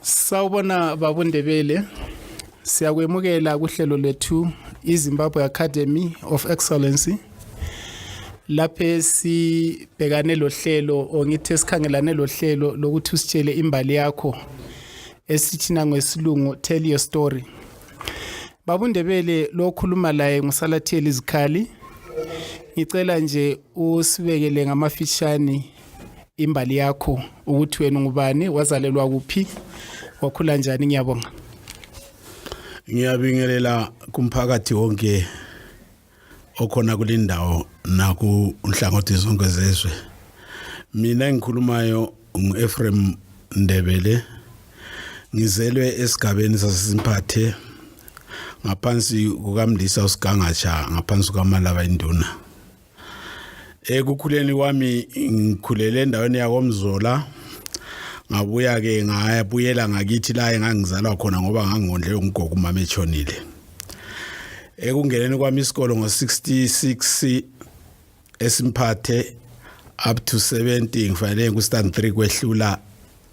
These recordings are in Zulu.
Sawubona babundebele. Siyakwemukela kuhlelo lethu iZimbabwe Academy of Excellency. Laphe sibhekane lohlelo ongithi sikhangelane lohlelo lokuthi usitshele imbali yakho esithina ngesilungu tell your story. Babundebele lokhuluma laye ngusalathiyeli izikhali. Ngicela nje usibekele ngamafishane imbali yakho ukuthi wena ungubani wazalelwa kuphi wakhula njani ngiyabonga ngiyabingelela kumphakathi wonke okhona kulindawo naku nhlangothi zonke zezwe mina engikhulumayo ngu-Ephraim Ndebele ngizelwe esigabeni saseSimphathe ngaphansi kukamndisa uSigangatsha ngaphansi kukaMalaba induna ekukhuleni kwami ngikhulele endaweni yakomzola ngabuya ke ngayabuyela ngakithi la engangizalwa khona ngoba ngangondle umgogo umama echonile ekungeneni kwami isikole ngo66 esimphathe up to 70 ngifanele ku stand 3 kwehlula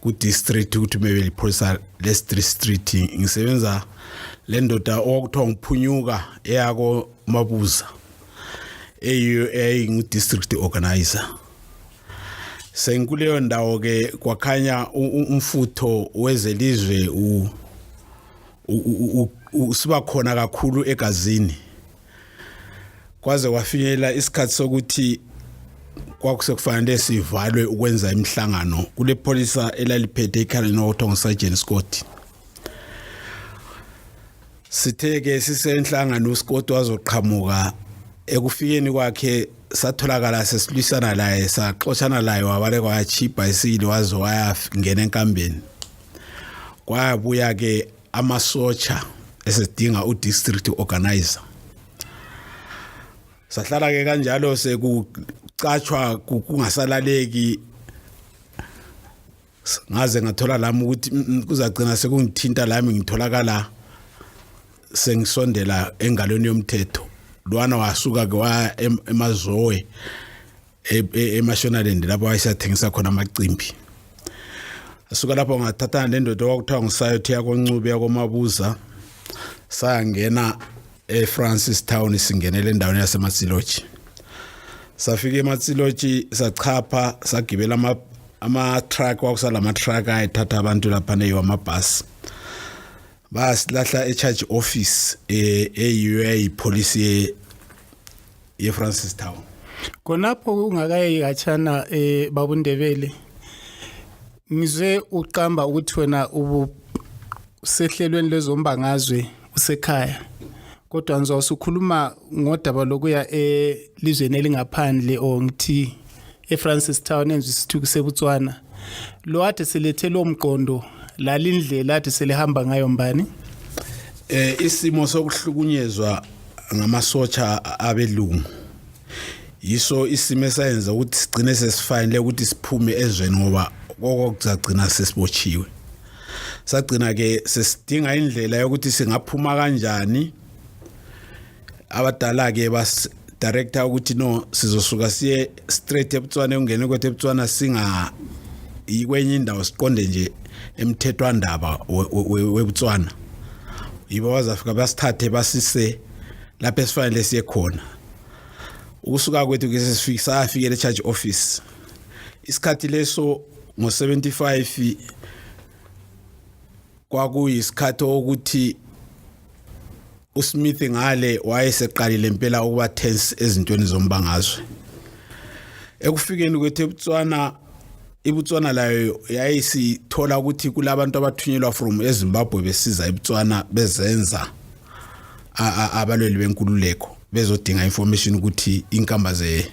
ku district ukuthi mebe liphoyisa le district ngisebenza le ndoda okuthiwa ngiphunyuka eyako mabuza eyiyo eyingu district organizer sengikuleyo ndawo ke kwakhanya umfutho wezelizwe u usiba khona kakhulu egazini kwaze kwafinyelela isikhathi sokuthi kwakusekufanele sivalwe ukwenza imihlangano kule pholisa elaliphethe ikhaleni okuthiwa ngusergeant scott sithe-ke sisenhlangano usikoti wazoqhamuka ekufikeni kwakhe satholakala sesilwisana laye saxoshana laye wabale kwayachipha isile waze wayangena enkambeni kwabuya-ke amasotsha esidinga u district organizer sahlala ke kanjalo sekucatshwa kungasalaleki ngaze ngathola lami ukuthi mm, mm, kuzagcina sekungithinta lami ngitholakala sengisondela engalweni yomthetho lwana wasuka ke wa emazowe e, e, eMashonaland lapho ayisathengisa khona amacimbi asuka lapho ngathathana nendoda kwakuthiwa ngisayothi yakoncube yakomabuza sangena eFrancis Town singenele endaweni yaseMatsiloji safika eMatsiloji sachapha sagibela ama ama truck wakusala ama truck ayithatha abantu lapha neyo amabus basilahla e charge office e, e UA police yefrancis town khonapho kungakaye katshana um eh, babundebele ngizwe uqamba ukuthi wena ubusehlelweni lwezombangazwe usekhaya kodwa ngizwa usukhuluma ngodaba lokuya elizweni elingaphandle or ngithi eFrancis Town enze isithuku seBotswana lo ade selethe lo mqondo lalindlela ade selihamba ngayo mbani eh isimo sokuhlukunyezwa ngamasotsha abelungu yiso isimo esayenza ukuthi sigcine sesifanele ukuthi siphume ezweni ngoba koko kuzagcina sesibotshiwe sagcina ke sesidinga indlela yokuthi singaphuma kanjani abadala-ke bas director ukuthi no sizosuka siye straight ebutswana ekungene kwethu ebutswana singa yikwenye indawo siqonde nje emthethwandaba webutswana yibo bazafika basithathe basise lapho esifanele siye khona ukusuka kwethu ke sesifika safikele charge office isikhathi leso ngo75 kwakuyisikhathi okuthi uSmith ngale wayeseqalile impela ukuba tense ezintweni zombangazwe ekufikeni kwethu eBotswana iBotswana layo yayisithola ukuthi kulabantu abathunyelwa from eZimbabwe besiza eBotswana bezenza abalweli benkululeko bezodinga information ukuthi inkamba ze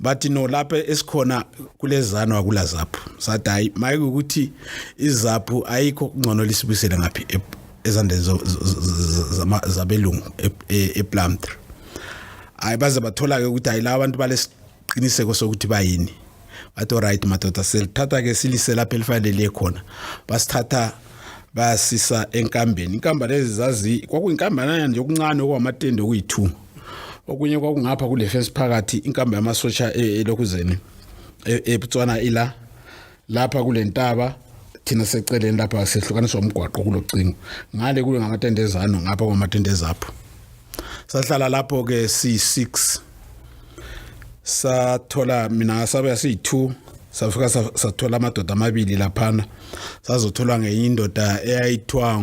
bathi no lapha esikhona kulezano akula zaphu sathi hayi maye ukuthi izaphu ayikho kungcono lisibuyisele ngaphi e, ezandeni zabelungu e, e, eplumtre hayi baze bathola-ke ukuthi hayi la abantu balesiqiniseko sokuthi bayini bathi oright madoda silithatha-ke silise lapho elifanele khona basithatha basisa enkambeni inkamba lezi zazi kwakuyinkambanana nje okuncane okwamatende okuyi-two okunye kwakungapha kule fence phakathi inkambi yamasosha e, elokuzeni e, eBotswana ila lapha kule ntaba thina seceleni lapha sehlukaniswa umgwaqo kulocingo ngale kule ngamatende ezano ngapha kwamatende ezapho sahlala lapho ke si6 sathola mina sabe siyi2 safika sathola amadoda amabili laphana sazotholwa ngenye indoda eyayithiwa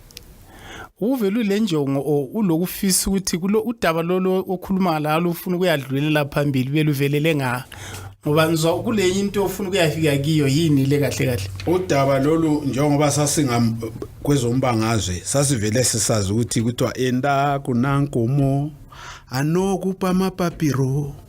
uvele ulenjongo or ulokufisa ukuthi kulo udaba lolo okhuluma lalo ufuna ukuyadlulela phambili beluvelele nga ngoba ngizwa kule into ofuna ukuyafika kiyo yini le kahle kahle udaba lolu njengoba sasinga kwezombangazwe sasivele sisazi ukuthi kuthiwa enda kunankomo anokupa amapapiro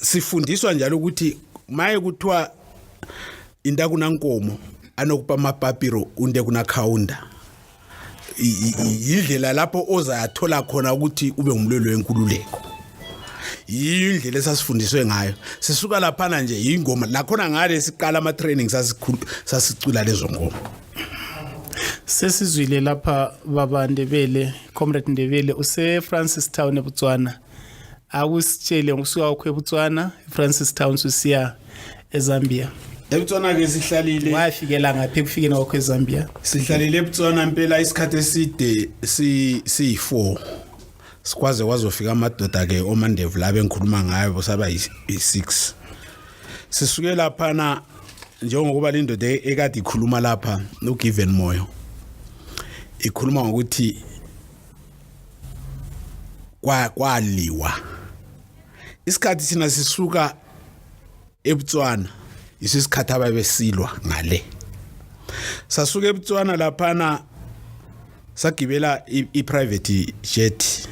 sifundiswa njalo ukuthi maye kuthiwa into akunankomo anokuba amapapiro unde kunakhawunda yindlela lapho ozathola khona ukuthi ube ngumlweli wenkululeko yiyo indlela esasifundiswe ngayo sisuka laphana nje yingoma lakhona ngale siqala ama-training sasicula lezo ngoma sesizwile lapha baba ndebele comrade ndebele usefrancis town ebutswana akusitshele ngokusuka kwakho eBotswana eFrancis Town sisiya eZambia eBotswana ke sihlalile wafikela ngaphi kufikeni kwakho eZambia sihlalile eBotswana impela isikhathi eside si si4 sikwaze wazofika amadoda ke omandevu la bengikhuluma ngayo bosaba yi6 sisuke lapha na njengokuba le ndoda e-, ekade ikhuluma lapha noGiven Moyo ikhuluma ngokuthi kwa kwaliwa isikhathi sina sisuka eButswana isisikhathi ababesilwa ngale sasuka eButswana laphana sagibela i-private jet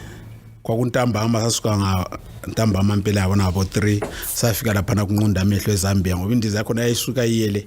kwakuntambama sasuka nga ntambama impela yabona ngabo 3 safika laphana kunqunda amehlo eZambia ngoba indiza yakhona yayisuka iyele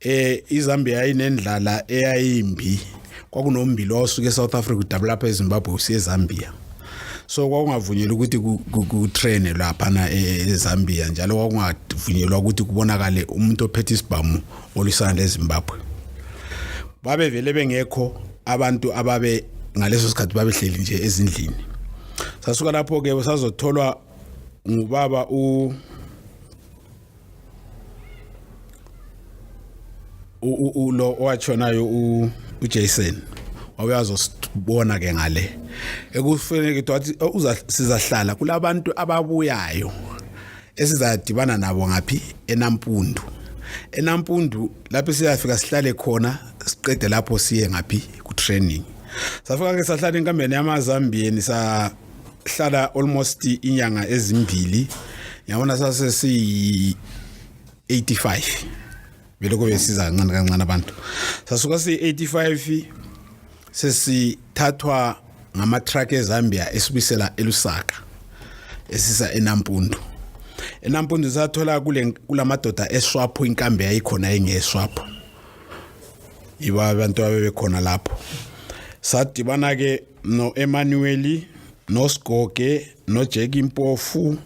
eh iZambia inendlala eyayimbi kwakunombili osuke eSouth Africa udabula lapha eZimbabwe usiye eZambia so kwakungavunyelwa ukuthi kutraine lapha na e, eZambia njalo kwakungavunyelwa ukuthi kubonakale umuntu ophethe isibhamu olisana leZimbabwe babevele bengekho abantu ababe ngaleso sikhathi babehleli nje ezindlini sasuka lapho ke sazotholwa ngubaba u u lo owatshonayo u Jason wawuyazi osibona ke ngale ekufanele ke wathi oh, uza sizahlala kulabantu ababuyayo esizadibana nabo ngaphi enampundu enampundu lapho siyafika sihlale khona siqede lapho siye ngaphi ku training safika ke sahlala enkampeni yamazambiyeni sa hlala almost inyanga ezimbili yabona sase si 85 beloko besiza kancane kancane abantu sasuka si 85 sesithathwa ngama truck eZambia esibisela elusaka esisa enampundu enampundu sathola kule kulamadoda eswapho inkambe yayikhona engeswapho iba abantu abebekhona lapho sadibana ke no Emmanuel no Sgoge no Jack Impofu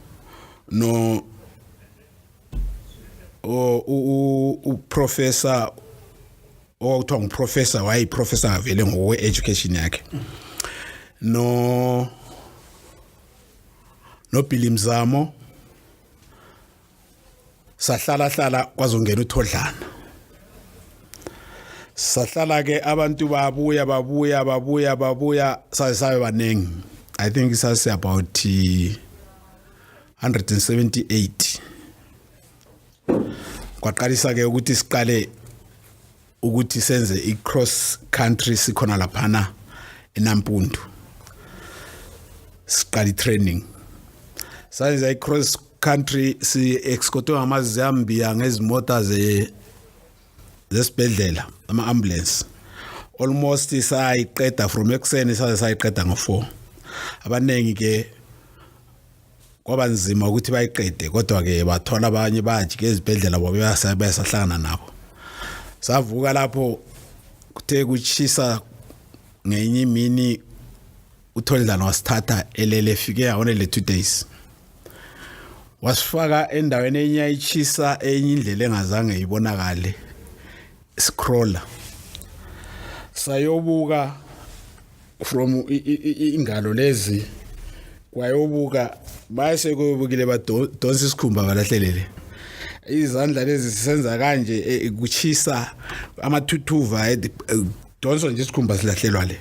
no o u u professor okuthiwa nguprofessor wayeyiprofessor avele ngokwe-education yakhe no nobhili mzamo sahlala hlala kwazongena uthodlana sahlala ke abantu babuya babuya babuya babuya saze sabe baningi i think sase about 178 kwaqalisa ke ukuthi siqale ukuthi senze i cross country sikhona laphana enampundu siqala i training sayenza i cross country si excotwe ngamazambiya ngezimota ze zesibhedlela ama ambulance almost sayiqeda from ekuseni saze sayiqeda ngo4 abaningi ke kwaba nzima ukuthi bayiqede kodwa-ke bathola abanye bajike ezibhedlela babesahlangana nabo savuka lapho kuthe kuchisa ngenye imini utholdlana wasithatha elele efike yawona le two days wasifaka endaweni enye ayichisa enye indlela engazange ibonakale scroller sayobuka from ingalo lezi kwayobuka base koyobukile badonsa isikhumba balahlelele izandla lezi sisenza kanje e, kuchisa amathuthuva e, e, donso nje isikhumba silahlelwa le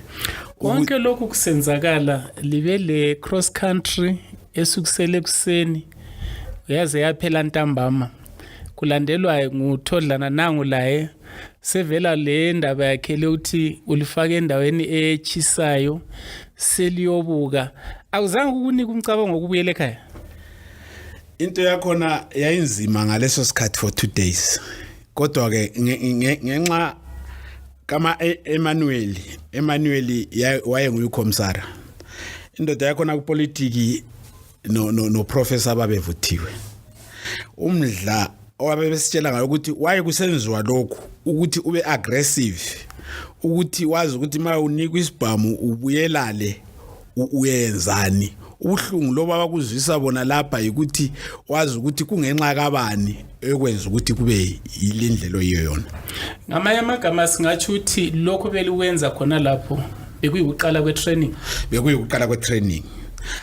konke lokhu kusenzakala libe le cross country esukusele ekuseni yaze yaphela ntambama kulandelwa nguthodlana nangu laye sevela le ndaba yakhe lokuthi ulifake endaweni echisayo seliyobuka awuzange ukunika umcabango wokubuyela ekhaya into yakhona yayinzima ngaleso sikhathi for 2 days kodwa ke ngenxa kama e, Emmanuel Emmanuel waye nguyikhomsara indoda yakhona kupolitiki no no, no professor ababevuthiwe umdla owabe besitshela ngayo ukuthi waye kusenziwa lokhu ukuthi ube aggressive ukuthi wazi ukuthi uma unikwa isibhamu ubuyelale uyenzani ubuhlungu loba bakuzwisa bona lapha yikuthi wazi ukuthi kungenxa kabani ekwenza ukuthi kube yile ndlela oyiyo yona ngamanye amagama singatsho ukuthi lokho beliwenza khona lapho bekuyikuqala kwe-training bekuyikuqala kwe-training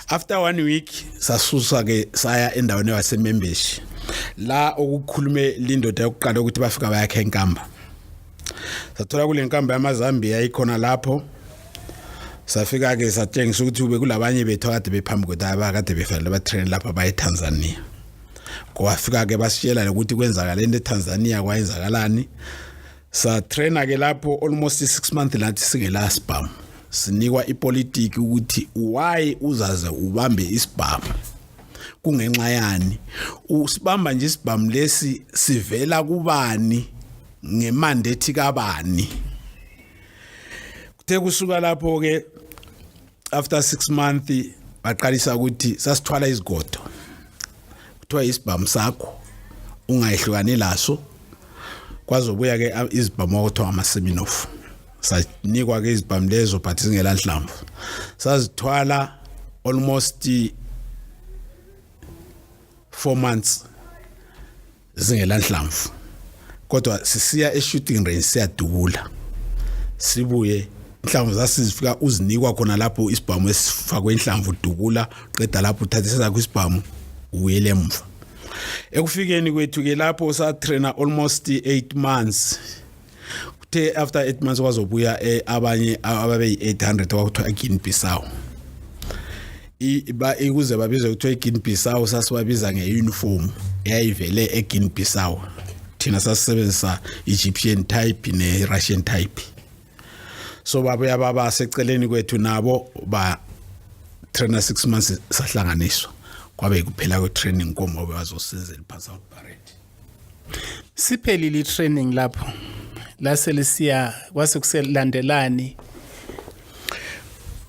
after one week sasusa ke saya endaweni yasemembeshi la okukhulume lindoda yokuqala ukuthi bafika bayakhe enkamba sathola kule nkamba yamazambia ikhona lapho safika ke satshengisa ukuthi ube kulabanye bethu akade bephambi kwethu abakade befanele batrain lapha baye Tanzania kwafika ke basitshela ukuthi kwenzakala into eTanzania kwayenzakalani sa trainer ke lapho almost 6 months lathi singela sibhamu sinikwa ipolitiki ukuthi why uzaze ubambe isibhamu kungenxa yani usibamba nje isibhamu lesi sivela kubani ngemandate kabani kuthe kusuka lapho ke after 6 month baqalisa ukuthi sasithwala izigodo kuthiwa isibhamu sakho ungayihlukani laso kwazobuya ke izibhamu okuthiwa amaseminof sanikwa ke izibhamu lezo but singela nhlamvu sazithwala almost 4 months zingelanhlamvu kodwa sisiya e-shooting range siyadubula sibuye inhlamvu zasizifika uzinikwa khona lapho isibhamu esifakwe inhlamvu udubula qeda lapho uthatha isakho isibhamu ubuyele emva ekufikeni kwethu ke lapho satraina almost 8 months kuthe after 8 months kwazobuya eh, abanye ababeyi 800 kwakuthiwa Guinea Bissau iba ikuze babizwe kuthiwa iGuinea Bissau sasibabiza ngeuniform eyayivele eGuinea Bissau thina sasisebenzisa Egyptian type ne Russian type so babuya baba seceleni kwethu nabo ba trainer 6 months sahlanganiswa kwabe kuphela kwe training komobe bazosizela phansi out parade siphelile i-training lapho lase lisiya kwase kuselandelani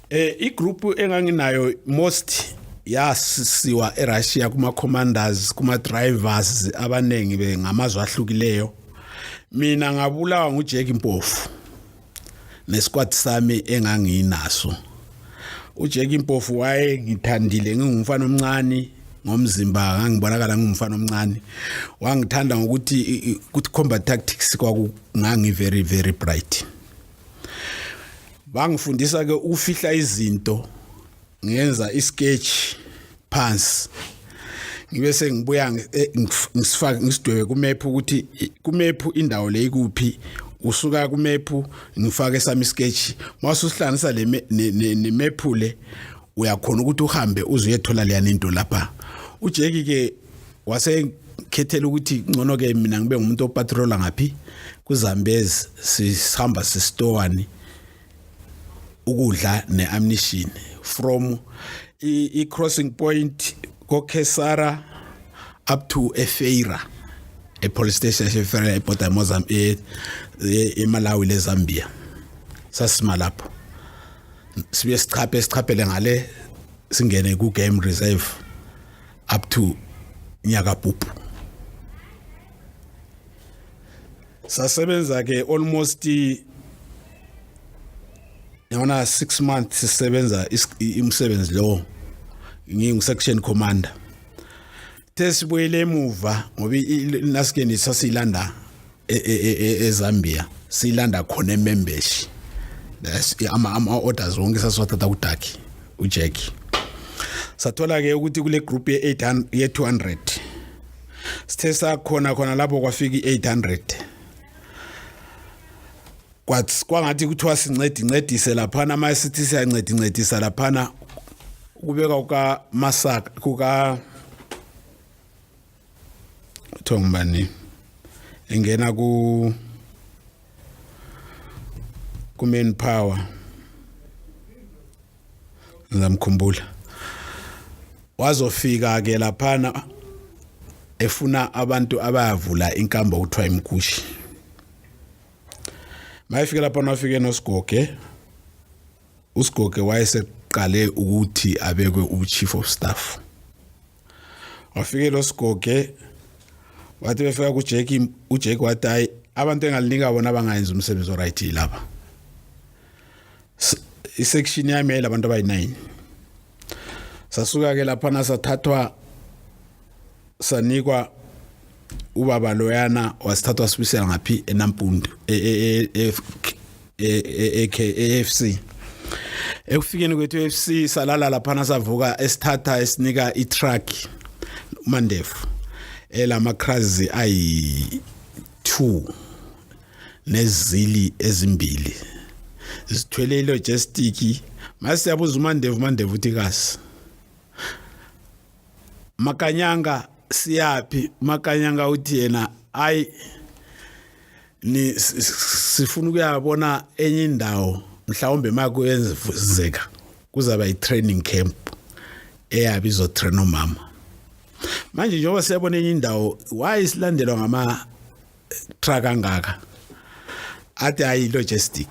eh igroup enganginayo most yasiwa eRussia kuma commanders kuma drivers abanengi bengamazwe ahlukileyo mina ngabulawa nguJack Mpofu nesquad sami enganginaso uJeki impofu waye ngithandile ngingumfana omncane ngomzimba ngangibonakala ngumfana omncane wangithanda ngokuthi ukuthi combat tactics kwakungangi very very bright bangifundisa ke ukufihla izinto ngenza isketch phansi ngibe sengibuya eh, ngisifake ngisidwebe ku map ukuthi ku map indawo le ikuphi usuka ku map ngifake sami sketch mase usihlanganisa le ne map le uyakhona ukuthi uhambe uze uyethola leya into lapha ujeki ke wase khethela ukuthi ngcono ke mina ngibe ngumuntu opatrola ngaphi kuzambezi sihamba sisitowani ukudla neamnition from i crossing point ko Kesara up to Efeira e police station Efeira e border Mozambique e Malawi le Zambia sasima lapho sibuye sichaphe sichaphele ngale singene ku game reserve up to nyaka pupu sasebenza ke almost yona 6 months sisebenza imsebenzi lo ngingu section commander tesibuyele emuva ngoba naske nisasiyilanda e, e, e, eZambia siyilanda khona emembeshi ama ama orders wonke sasiwathatha kuDaki uJackie sathola ke ukuthi kule group ye 800 ye 200 sithe sakhona khona lapho kwafika i-800 kwathi kwangathi kuthiwa sincedi ncedise laphana uma sithi siyancedi ncedisa laphana kubeka kukamasaka kuka kuthiwa ngubani engena ku ku-main power ngizamkhumbula wazofika ke laphana efuna abantu abayavula inkambo kuthiwa imkushi mayefike lapha nafike nosigoge usigoge wayeseqale ukuthi abekwe uchief of staff wafike lo sigoge wathi befika kuJake uJake wathi hayi abantu engalinika bona abangayenza umsebenzi oright lapha isection yami yayilabantu abayi-9 sasuka-ke laphana sathathwa sanikwa ubaba loyana wasithathwa sibisela ngaphi enampundu e-afc e, e, e, ekufikeni kwethu e-afc salala laphana savuka esithatha esinika itruck umandefu elama-crazi ayi-two nezili ezimbili zithwele ilogistiki masiyabuza umandevu umandevu uthi kasi makanyanga siyaphi makanyanga uthi yena ayi ni sifuna ukuyabona enye indawo mhlawumbe makuyenzeka kuzaba i-training camp eyabe izotraina umama manje njengoba siyabona enye indawo why silandelwa ngama truck angaka athi ayi logistic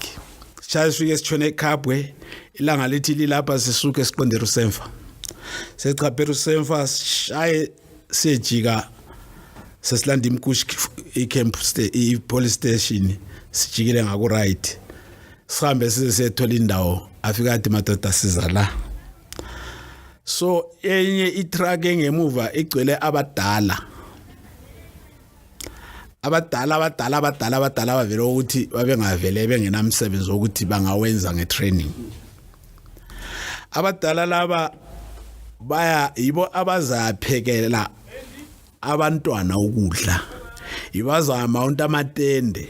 shaya sifike sitshone eKhabwe ilanga lithi lilapha sisuke siqondera usemfa sechapera usemfa shaye sejika sesilanda imkushi icamp ipolice station sijikile ngaku right sihambe size sethola indawo afika athi madoda siza la so enye itruck engemuva igcwele abadala abadala abadala abadala abadala bavele ukuthi babengavele bengenamsebenzi wokuthi bangawenza ngetraining abadala laba baya yibo abazaphekela abantwana ukudla yibazama untamatende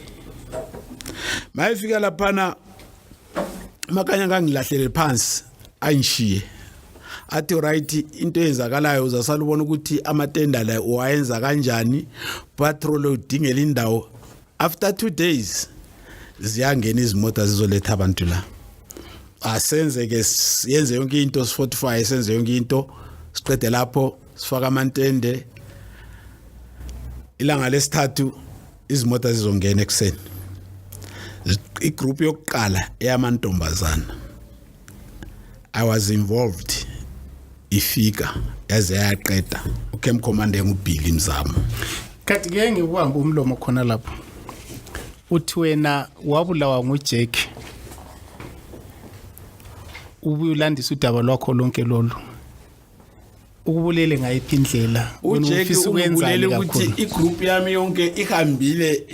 mayifika laphana makanya kangilahlele phansi angishiye athi right into eyenzakalayo uzasala ubona ukuthi amatenda la wayenza kanjani patrol udingela indawo after 2 days ziyangena izimoto zizoletha abantu la asenze ke yenze yonke into sifortify senze yonke into siqede lapho sifaka amantende ilanga lesithathu izimoto zizongena ekuseni igroup yokuqala eyamantombazana i was involved ifika yaze yaqeda ucamp commander ngubhili mzamo kanti ngeke ngikuhambe umlomo khona lapho uthi wena wabulawa ngujack ubuye ulandise udaba lwakho lonke lolu ukubulele ngayiphi indlela ujeki ukubulele ukuthi igroup yami yonke ihambile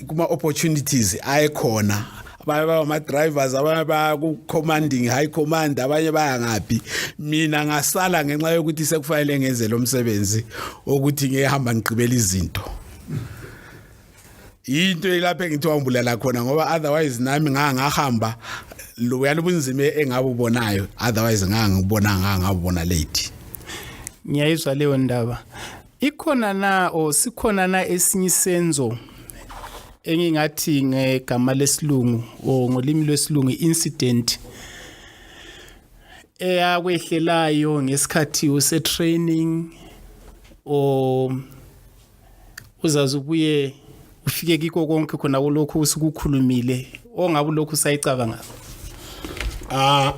kuma opportunities ayekhona abanye bama drivers abanye ba ku commanding high command abanye baya ngaphi mina ngasala ngenxa yokuthi sekufanele ngenze lo msebenzi ukuthi ngihamba ngigqibela izinto into elapha engithi wambulela khona ngoba otherwise nami nganga ngahamba lo yana ubunzima engabubonayo otherwise nganga ngibona nganga ngabona late ngiyayizwa leyo ndaba ikhona na o sikhona na esinye isenzo engingathi ngegama lesilungu o ngolimi lwesilungu incident eyakwehlelayo ngesikhathi use training o uzazi ubuye ufike kiko konke khona kulokhu usikukhulumile ongabe lokhu usayicabanga ah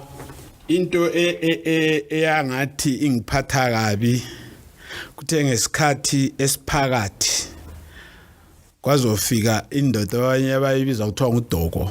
into e, e, e, eyangathi ingiphatha kabi kuthe ngesikhathi esiphakathi kwazofika indoda abanye abayibiza kuthiwa ngudoko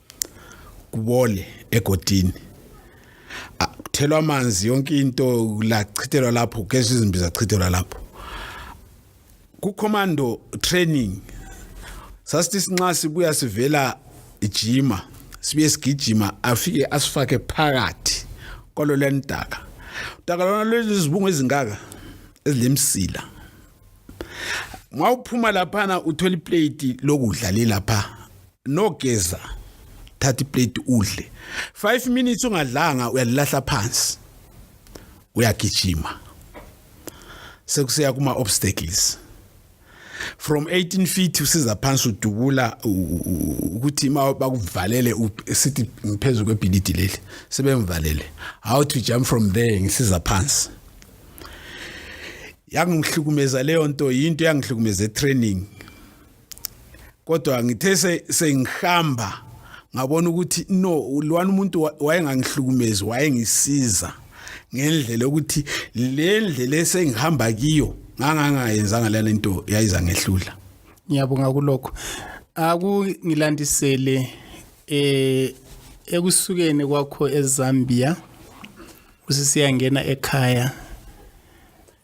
kubole egodini kuthelwa amanzi yonke into lachithelwa lapho kugezwa izimbi zachithelwa lapho kucommando training sasithi sinxa sibuya sivela ijima sibuye sigijima afike asifake phakathi kwalo lentaka utaka lona lwezibungu ezingaka ezilemsila uma uphuma laphana uthola iplate lokudla lelapha nogeza thatha iplate udle 5 minutes ungadlanga uyalilahla phansi uyagijima sekuseya kuma obstacles from 18 feet usiza phansi udubula ukuthi bakuvalele sithi ngiphezulu kwebhilidi leli sebemvalele how to jump from there ngisiza phansi yangihlukumeza leyo nto yinto yangihlukumeza etraining kodwa ngithe sengihamba ngabona ukuthi no lwana umuntu wayengangihlukumezi wayengisiza ngendlela ukuthi le ndlela esengihamba kiyo ngangangayenzanga lana into yayiza ngehlula ngiyabonga kulokho akungilandisele eh ekusukeni kwakho eZambia usisi yangena ekhaya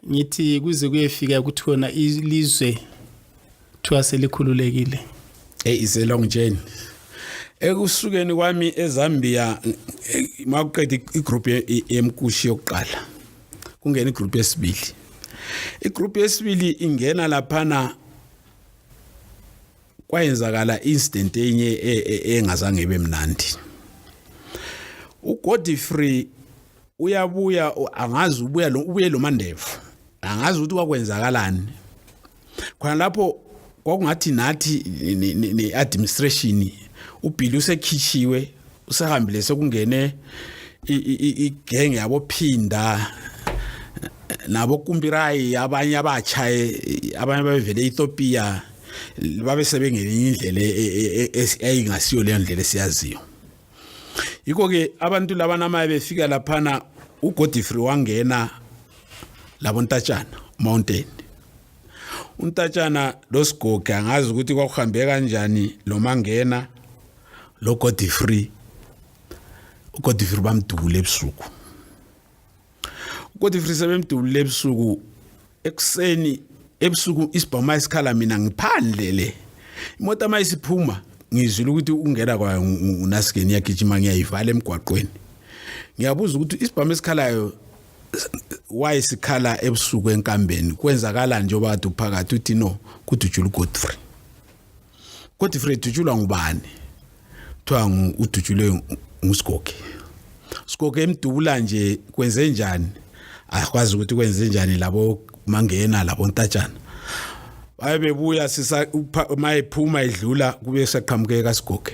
ngithi kuze kuyefika ukuthi wona ilizwe kuthiwa selikhululekile hey is a long journey ekusukeni kwami eZambia makuqeda igroup yemkushi yokuqala kungena igroup yesibili igroup yesibili ingena laphana kwayenzakala incident enye e, e, engazange ibe mnandi uGodfrey uyabuya angazi ubuya lo ubuye lo mandevu angazi ukuthi kwakwenzakalani khona lapho kwakungathi nathi ne administration uBilly usekhishiwe usehambile sekungene igenge yabo phinda nabo kumbirayi abanye abatsha abanye babevele Ethiopia babe sebengenye indlela e, e, e, eyingasiyo leyo ndlela esiyaziyo yikho ke abantu laba namaye befika laphana uGodfrey wangena labo ntatshana mountain untatshana losigoge angazi ukuthi kwakuhambe kanjani lo mangena lo Godfrey uGodfrey bamdubula ebusuku uGodfrey sebemdubula ebusuku ekuseni ebusuku isibhoma isikhala mina ngiphandle le imoto amayisiphuma ngizwile ukuthi ungena kwayo unasikeni yagijima ngiyayivala emgwaqweni ngiyabuza ukuthi isibhama esikhalayo wayesikhala ebusuku enkambeni kwenzakala njengoba kade uphakathi uthi no kuthi ujula uGodfrey kodwa ifree dutshulwa ngubani kuthiwa udutshulwe ngusigoge sigoge emdubula nje kwenze njani akwazi ukuthi kwenze njani labo mangena labo ntatshana baye bebuya sisa uma ephuma edlula kube saqhamukeka sigoge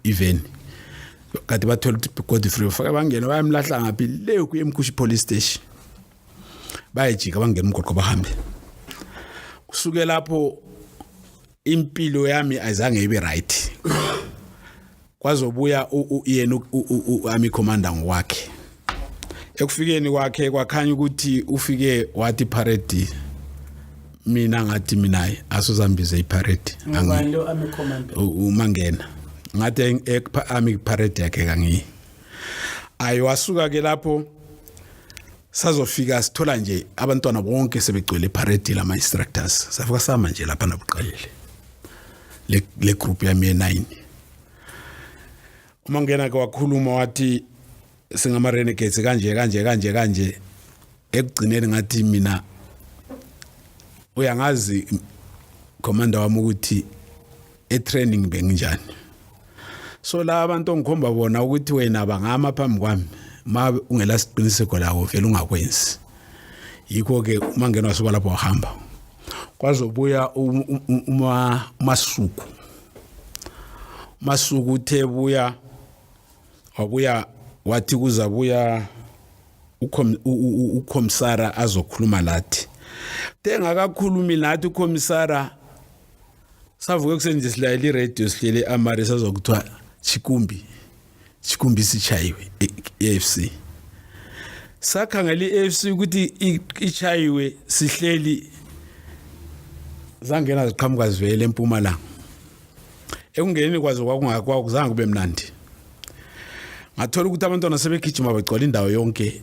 even kade bathola ukuthi Godfrey ufaka bangena bayamlahla ngaphi le kuyemkhushi police station bayajika bangena umgwaqo bahambe kusuke lapho impilo yami ayizange ibe right kwazobuya yena ami commander ngokwakhe ekufikeni kwakhe kwakhanya ukuthi ufike wathi parade mina ngathi mina asuzambize iparade umangena ngathi ami parade yakhe kangiyi ayi wasuka ke lapho sazofika sithola nje abantwana bonke sebegcwele epharedi lama instructors safika sama nje lapha nabuqalele le le group yami ye9 uma ngena ke wakhuluma wathi singama renegades kanje kanje kanje kanje ekugcineni ngathi mina uyangazi commander wami ukuthi etraining benginjani so la abantu ongikhomba bona ukuthi wena bangama phambi kwami ma ungela siqiniseko lawo vele ungakwenzi yikho ke uma ngenwa soba lapho wahamba kwazobuya uma masuku masuku uthe buya wabuya wathi kuzabuya ukhomsara azokhuluma lathi tengakakhulumi lathi ukhomsara savuke ekuseni nje silayela iradio sihlele amare sazwa kuthiwa chikumbi chikumbi sichayiwe e-afc e sakhangela i-afc ukuthi ichayiwe sihleli zangena ziqhamuka zivele empumalanga ekungeneni kwazo kwakungakuzange kube mnandi ngathola ukuthi abantwana sebegijima bagcwala indawo yonke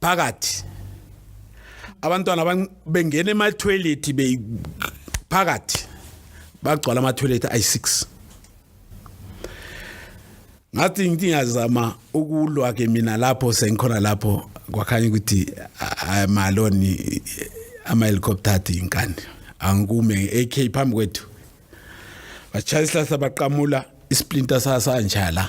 phakathi abantwana bengena emathoyilethi phakathi bagcwala amathoyilethi ayi-six ngathi ngithi ngiyazama ukulwa-ke mina lapho sengikhona lapho kwakhanye ukuthi amaloni ama-helicopter athi yinkani angikume nge-ak phambi kwethu bashaya isihlahla baqamula isplinter sasangitshala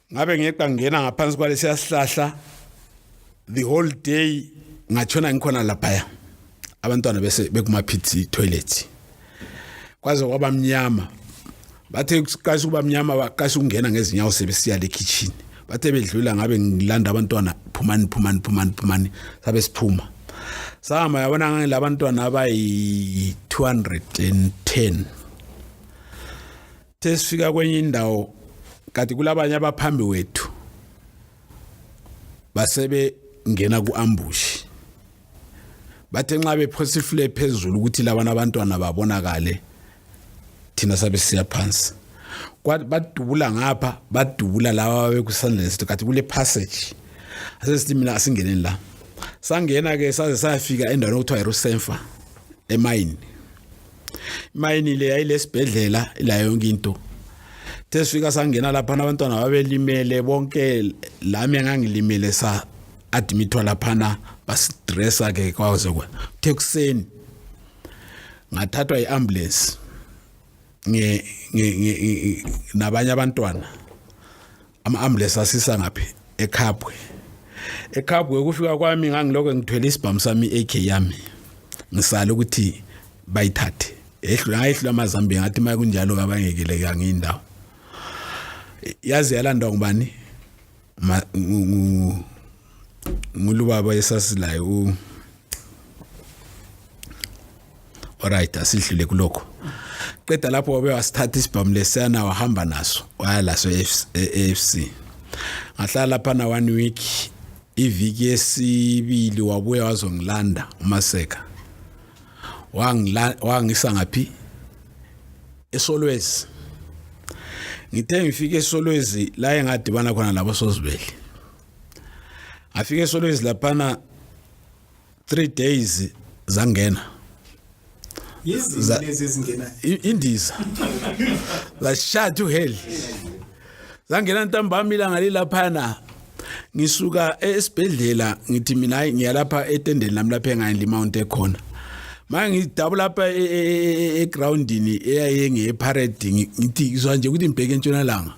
ngabe ngiyeqa ngena ngaphansi kwalesiya sihlahla the whole day ngatshona ngikhona laphaya abantwana bese bekumaphithi toilet kwaze kwaba mnyama bathe kuqasha ukuba mnyama baqasha ukungena ngezinyawo sebesiya le kitchen bathe bedlula ngabe ngilanda abantwana phumani phumani phumani phumani sabe siphuma sahamba yabona ngangilabantwana abayi-210 sesifika kwenye indawo kanti kulabanye abaphambi wethu basebe ngena kuambushi bathe nxa bephosa ifule phezulu ukuthi labana abantwana babonakale thina sabe siya phansi badubula ngapha badubula laba bekusandleni sethu kathi kule passage asesithi mina asingeneni la sangena ke saze sayafika endaweni okuthiwa irusenfa emayini imayini le yayilesibhedlela la yonke into sesifika sangena lapha abantwana babelimele bonke lami engangilimele sa admitwa laphana basidressa ke kwaze kwa thekuseni ngathathwa iambulance nge nabanye abantwana ama-ambulance asisa ngaphi ekhabwe ekhabwe ukufika kwami ngangilokho ngithwele isibhamu sami i-ak yami ngisale ukuthi bayithathe ehlula ngayehlula amazambiya ngathi uma kunjalo kabangekele kange indawo yaze yalandwa ngubani ngulu baba esasilayo u Alright asidlule kuloko qeda lapho wabe wasithatha isibhamu lesana wahamba naso waya laso eFC e ngahlala phana one week iviki yesibili wabuya wazongilanda umaseka wangila wangisa ngaphi esolwezi ngithe ngifike esolwezi la engadibana khona labo sozibeli afike esolwezi laphana 3 days zangena yizilezi ezingena indiza la shut to hell zangena ntambama ilanga lilaphana ngisuka esibhedlela ngithi mina hayi ngiyalapha etendeni lami lapha engayini limount ekhona manje ngidabula lapha e, e, e, egroundini eyayenge eparade ngithi ngizwa nje ukuthi ngibheke entshonalanga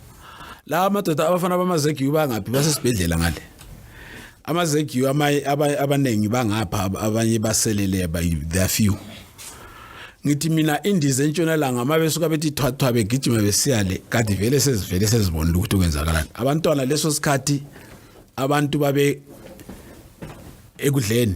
la madoda abafana bamazegiyu bangaphi basesibhedlela ngale amazegiyu abaningi bangapha abanye baselele they are few ngithi mina indiza entshonalanga uma besuka bethi thwathwa begijima besiya le kade vele sezivele sezibonile ukuthi kwenzakalani abantwana leso sikhathi abantu babe ekudleni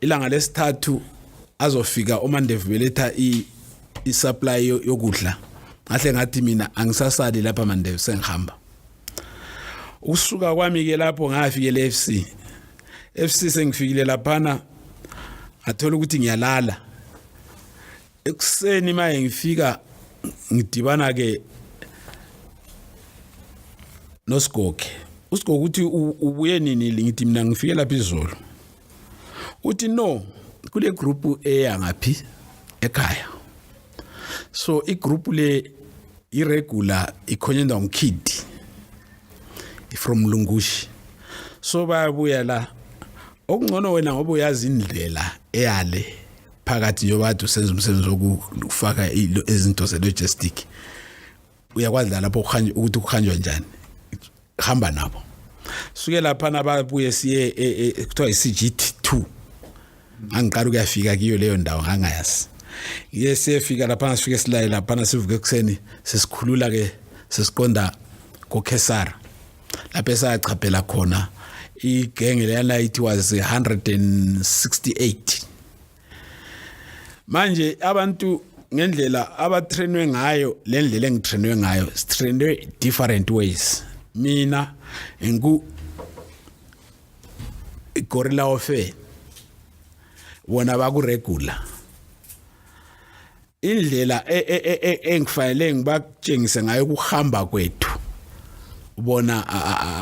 ilanga lesithathu azofika umandevu beletha i-supply yokudla ngahle ngathi mina angisasali lapha mandevu sengihamba ukusuka kwami-ke lapho ngafikele f c f c sengifikile laphana ngathola ukuthi ngiyalala ekuseni maye ngifika ngidibana-ke nosigoge usigoge ukuthi ubuye nini ngithi mina ngifike lapha izolo uthi no kule group eya ngaphi ekhaya so i group le i regular ikhonyenda umkid from lungushi so bayabuya la okungcono wena ngoba uyazi indlela eyale phakathi yobathu senza umsebenzi wokufaka izinto ze logistic uyakwazi la lapho ukuthi ukuhanjwa njani hamba nabo suke lapha nababuye siye e, e, kuthiwa i-CGT2 angiqala ukuyafika kiyo leyo ndawo ngangayazi ngiye siyefika laphana sifike silaye laphana sivuke ekuseni sesikhulula ke sesiqonda kokhesara lapho esachaphela khona igenge leyana it was 168 manje abantu ngendlela abatrainwe ngayo le ndlela engitrainwe ngayo sitrainwe different ways mina ngiku gorilla ofe wona bakuregula indlela e, e, e, engifanele ngibakutshengise ngayo ukuhamba kwethu bona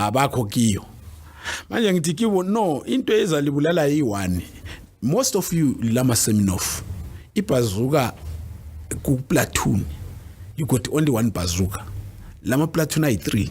abakho kiyo manje ngithi kibo no into ezalibulala yi-one most of you lama seminof ibhazuka kuplatoon you got only one bazuka lama platoon ayi-three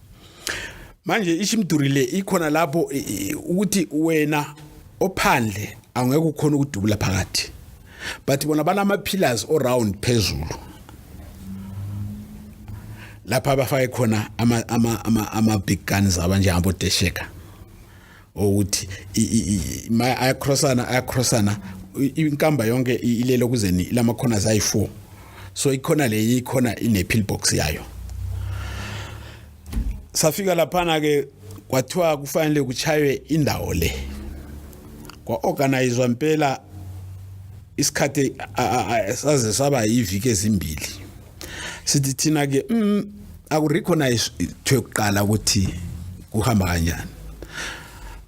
manje ishimduri le ikhona lapho ukuthi wena ophandle angeke ukhona ukudubula phakathi but bona banama pillars all round phezulu lapha abafake khona ama ama ama ama big guns abanje hamba odesheka ukuthi ayacrossana ayacrossana inkamba yonke ilele kuzeni lama corners ayi4 so ikhona le ikhona ine pill box yayo safika laphana ke kwathiwa kufanele kuchaywe indawo le kwa-organizwa mpela isikhathi saze saba yiviki ezimbili sithi thina ke mm, aku recognize thwe kuqala ukuthi kuhamba kanjani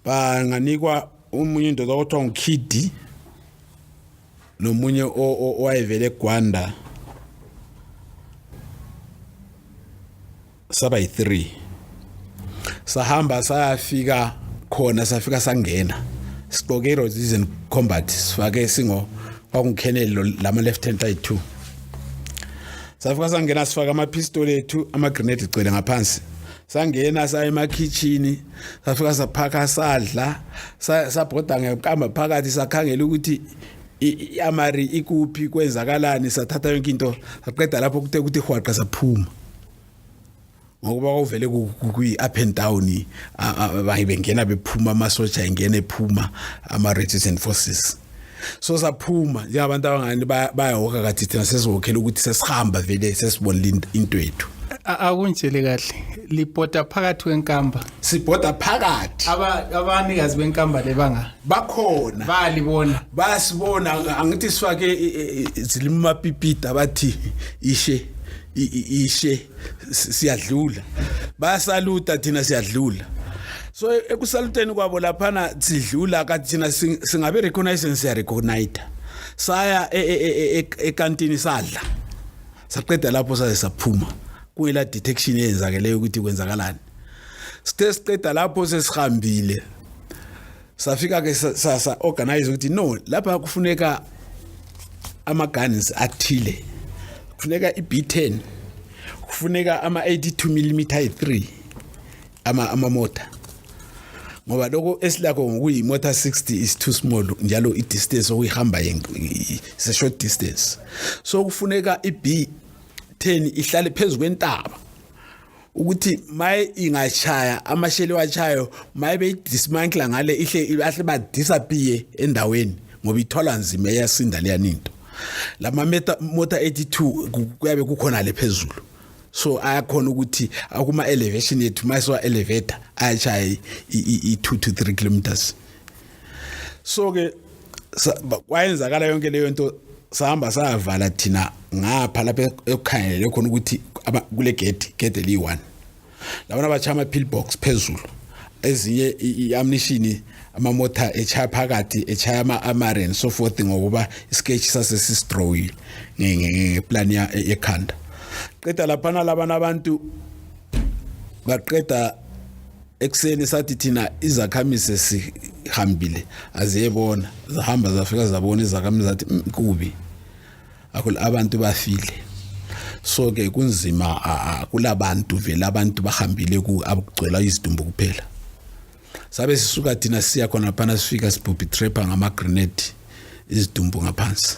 ba nganikwa umunye indoda okuthiwa ngukidi nomunye owayevele egwanda saba yi3 sahamba sayafika khona safika sangena siqoke iroses and combat sifake singo kwakungikhenelo lama left hand side 2 safika sangena sifaka ama pistol ethu ama grenade igcwele ngaphansi sangena saya emakhichini safika saphaka sadla sabhoda ngekamba phakathi sakhangela ukuthi iamari ikuphi kwenzakalani sathatha yonke into saqeda lapho kuthe ukuthi hwaqa saphuma ngokuba kwavele kwi-up and down baye bengena bephuma amasoja engena ephuma ama-resistant forces so saphuma njengabantu abangani bayahoka kathi thina sesihokhela ukuthi sesihamba vele sesibonile into yethu akunjele kahle libhoda phakathi kwenkamba sibhoda phakathi abanikazi benkamba lebanga bakhona balibona basibona angithi sifake zilimapipida bathi ishe ishe siyadlula bayasaluta thina siyadlula so ekusaluteni kwabo laphana sidlula kathi thina singabe recognize siya recognize saya e, e, e, ekantini sadla saqeda lapho saze saphuma kuyila detection eyenzakeleyo ukuthi kwenzakalani sithe siqeda lapho sesihambile safika ke sasa organize ukuthi no lapha kufuneka ama guns athile kufuneka i B10 kufuneka ama 82 mm 3 ama ama motor ngoba lokho esilakho ngokuyi motor 60 is too small njalo i distance okuyihamba se short distance so kufuneka i B10 ihlale phezulu kwentaba ukuthi maye ingashaya amasheli wachayo maye beyidismantle ngale ihle ahle ba disappear endaweni ngoba ithola nzima eyasinda leya ninto lama mota 82 kuyabe kukhona le phezulu so ayakhona ukuthi akuma elevation yethu mayiswa elevator ayashaya i 2 to 3 kilometers so ke kwayenzakala yonke leyo nto sahamba savala thina ngapha lapha ekukhangelele khona ukuthi kule gate gate eliyi-one labana batsha ama-pill box phezulu ezinye i-amnishini amamotha echaya phakathi echaya ama-amare and so forth ngokuba isketch sase sistrowile ngeplan yekhanda qeda laphana labana abantu baqeda ekuseni sathi thina izakhamise sihambile aziyebona zahamba zafika zabona izakhamise zathi mm, kubi akho abantu bafile so ke kunzima kulabantu vele abantu bahambile ku abugcwela izidumbu kuphela sabe sisuka thina siya khona phana sifika sibhubhi trapper ngama grenade izidumbu ngaphansi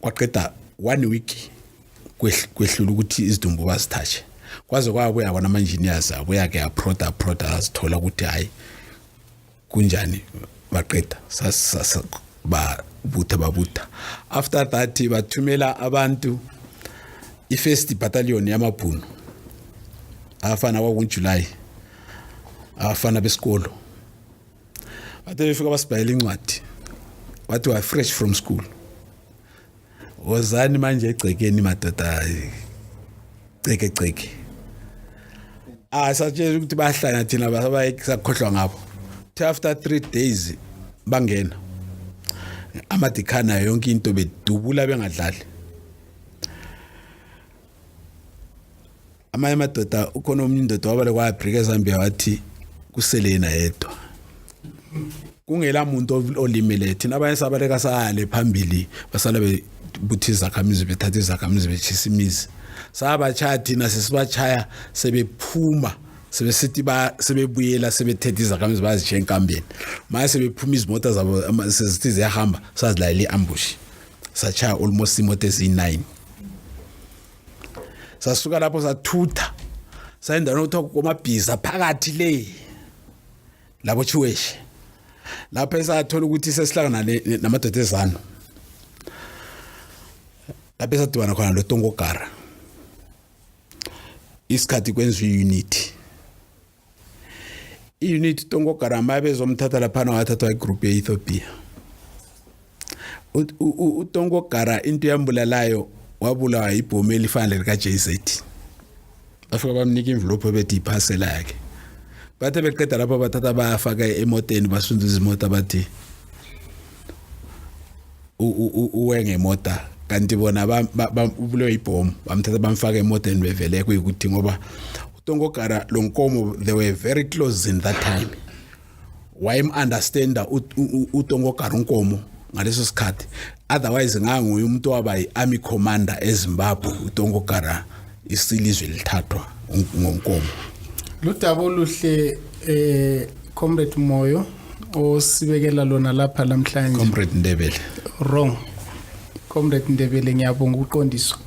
kwaqeda one week kwehlula ukuthi izidumbu bazithatshe kwaze kwabuya kona ama-engineers abuya-ke aproda aproda azithola ukuthi hhayi kunjani baqeda babutha babutha after that bathumela abantu i-first battalion yamabhunu afana kwakunjulayi afana besikolo bathe befika basibhayela incwadi wathi wa fresh from school wozani manje egcekeni madoda ceke ceke ah satshela ukuthi bahlanya thina basakhohlwa ngabo after 3 days bangena amadikhana yonke into bedubula bengadlali amanye amadoda ukhona omunye indoda wabale kwayabhrika ezambia wathi kusele yena yedwa kungela muntu olimele thina abanye sabaleka sale phambili basala bebuthi izakhamizi bethatha izakhamizi betshisa imizi sabachaya thina sesibachaya sebephuma sebesithi ba sebebuyela sebethethe izakhamizi bazishiya enkambeni manje sebephuma izimoto zabo sezithi ziyahamba sazilayela i-ambush sachaya almost imoto eziyi-nine sasuka lapho sathutha sayendaweni okuthiwa komabhiza phakathi le labo chiweshe lapho esathola ukuthi sesihlangana namadoda ezano lapho esadibana khona lotongogara isikhathi kwenziwa unity i-unit tongogarama abezomthatha laphana wathathwa igroup ye-ethiopia utongogara into yambulalayo wabulawa yibhomu elifana lika-jz bafika bamnika imvilophu ebethi iphasela yakhe bathe beqeda lapho bathatha bayafaka emoteni basunduza imoto abathi uwenge mota kanti bona ubulewe ibhomu bamthatha bamfaka emoteni bevele kuyikuthi ngoba utongogara lo nkomo they were very close in that time wayem-understanda utongogara unkomo ngaleso sikhathi otherwise nganguye umuntu waba yi-army commander ezimbabwe utongogara isilizwe lithathwa ngonkomo lo daba oluhle eh comrade moyo osibekela lona lapha namhlanje comrade ndebele wrong comrade ndebele ngiyabonga ukuqondiswa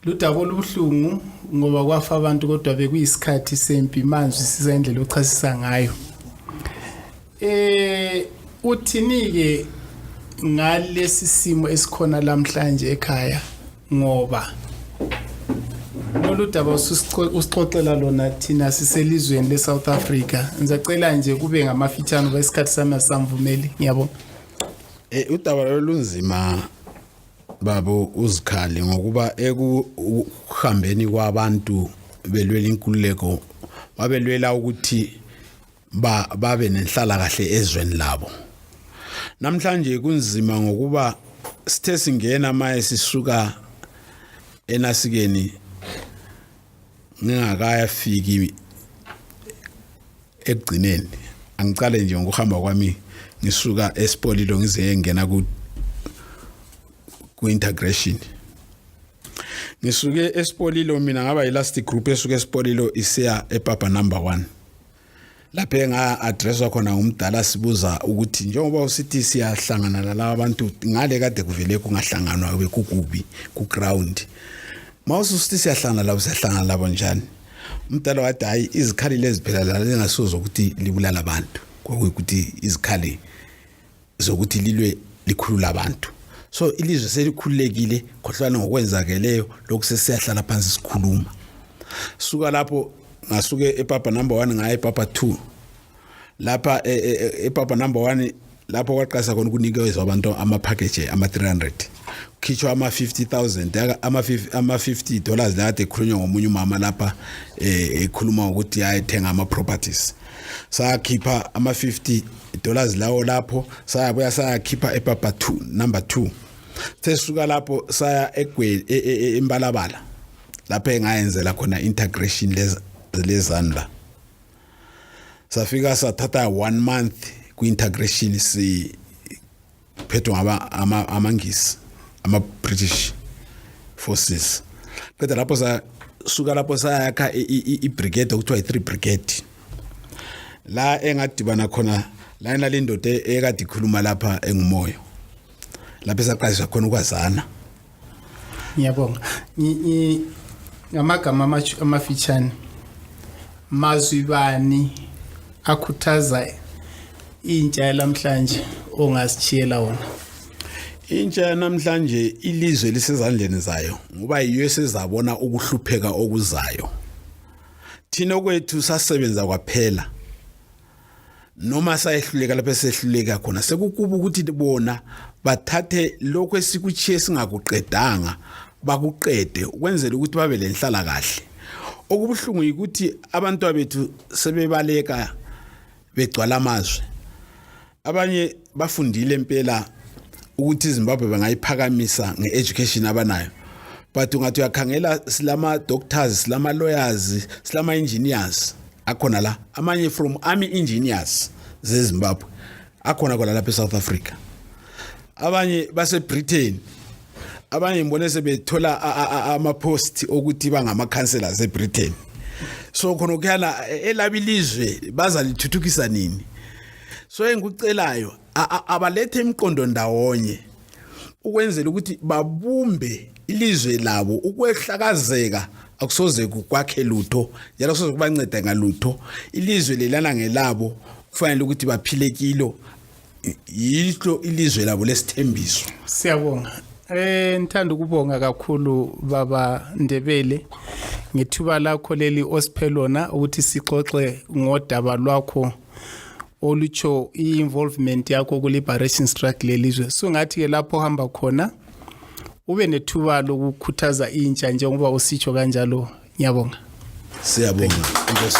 ludaba olubuhlungu ngoba kwafa abantu kodwa bekuyisikhathi sempi manje siza indlela ochasisa ngayo Eh uthinike ngalesi simo esikhona lamhlanje ekhaya ngoba lolu daba usixoxela lona thina siselizweni le-south africa ngisacela nje kube ngamafitshane uba isikhathi sami asamvumeli ngiyabona um udaba lolo lunzima babo uzikhali ngokuba ekuhambeni kwabantu belwela inkululeko babelwela ukuthi ba babe nenhlala kahle ezweni labo namhlanje kunzima ngokuba sithe singena maye sisuka enasikeni ngingakaya fiki ekugcineni angicale nje ngokuhamba kwami ngisuka esipolilo ngize ngena ku ku-integration ngisuke esipolilo mina ngaba yi-last group esuke esipolilo isiya epapa number one lapho enga-adreswa khona ngumdala sibuza ukuthi njengoba usithi siyahlangana nalaba bantu ngale kade kuvele kungahlanganwa bekukubi ku-ground ma ususithi siyahlangana labo siyahlangana labo njani umdala wathi hhayi izikhali lezi phela lala lingasuza ukuthi libulala abantu kwakuyukuthi izikhali zokuthi lilwe likhulula abantu so ilizwe selikhululekile khohlwana ngokwenzakeleyo lokhu sesiyahlala phansi sikhuluma suka lapho ngasuke epapa number 1 ngaye epapa 2 lapha e, e, e, epapa number 1 lapho kwaqasa khona ukunikezwa abantu ama package ama 300 khishwa ama 50000 ama 50 ama 50 dollars la ade khulunywa ngomunye umama lapha ekhuluma ukuthi ayethenga ama properties sakhipha ama 50 dollars lawo lapho sayabuya sayakhipha ePapa 2 number 2 sesisuka lapho saya egweli e, e, e, embalabala lapho engayenzela khona integration leza lezani la safika sathatha one month kwi-integration si phethe ngaba ama amangisi ama British forces qeda lapho sa suka lapho sayakha i brigade okuthiwa i 3 brigade la engadibana khona la inale indoda ekade ikhuluma lapha engumoyo lapho esaqalisa khona ukwazana ngiyabonga ngamagama amafitshane mazwi bani akhuthaza intsha yalamhlanje ongasishiyela wona intsha yanamhlanje ilizwe lisezandleni zayo ngoba yiyo esezabona ukuhlupheka okuzayo thina okwethu sasebenza kwaphela noma sayehluleka lapho esehluleka khona sekukuba ukuthi bona bathathe lokho esikuchiye singakuqedanga bakuqede ukwenzela ukuthi babe lenhlala kahle okubuhlungu ukuthi abantu bethu sebebaleka begcwala amazwi abanye bafundile impela ukuthi iZimbabwe bangayiphakamisa ngeeducation abanayo but ungathi uyakhangela silama doctors silama lawyers silama engineers akhona la amanye from army engineers zezimbabwe akhona khona lapha esouth africa abanye basebritain abanye ngibone sebethola amapost okuthi bangama-councellors ebritain so khona ukuyana elaba ilizwe bazalithuthukisa nini so engikucelayo abalethe imiqondo ndawonye ukwenzela ukuthi babumbe ilizwe labo ukwehlakazeka akusoze kukwakhe lutho njalo kusoze kubanceda ngalutho ilizwe lelana ngelabo kufanele ukuthi baphile kilo yilo ilizwe labo lesithembiso siyabonga eh ngithanda ukubonga kakhulu baba Ndebele ngethuba lakho leli osiphelona ukuthi sixoxe ngodaba lwakho olutsho i-involvement yakho ku-liberation struggle lelizwe so ngathi ke lapho ohamba khona ube nethuba lokukhuthaza intsha njengoba usitsho kanjalo ngiyabonga siyabonga inkosi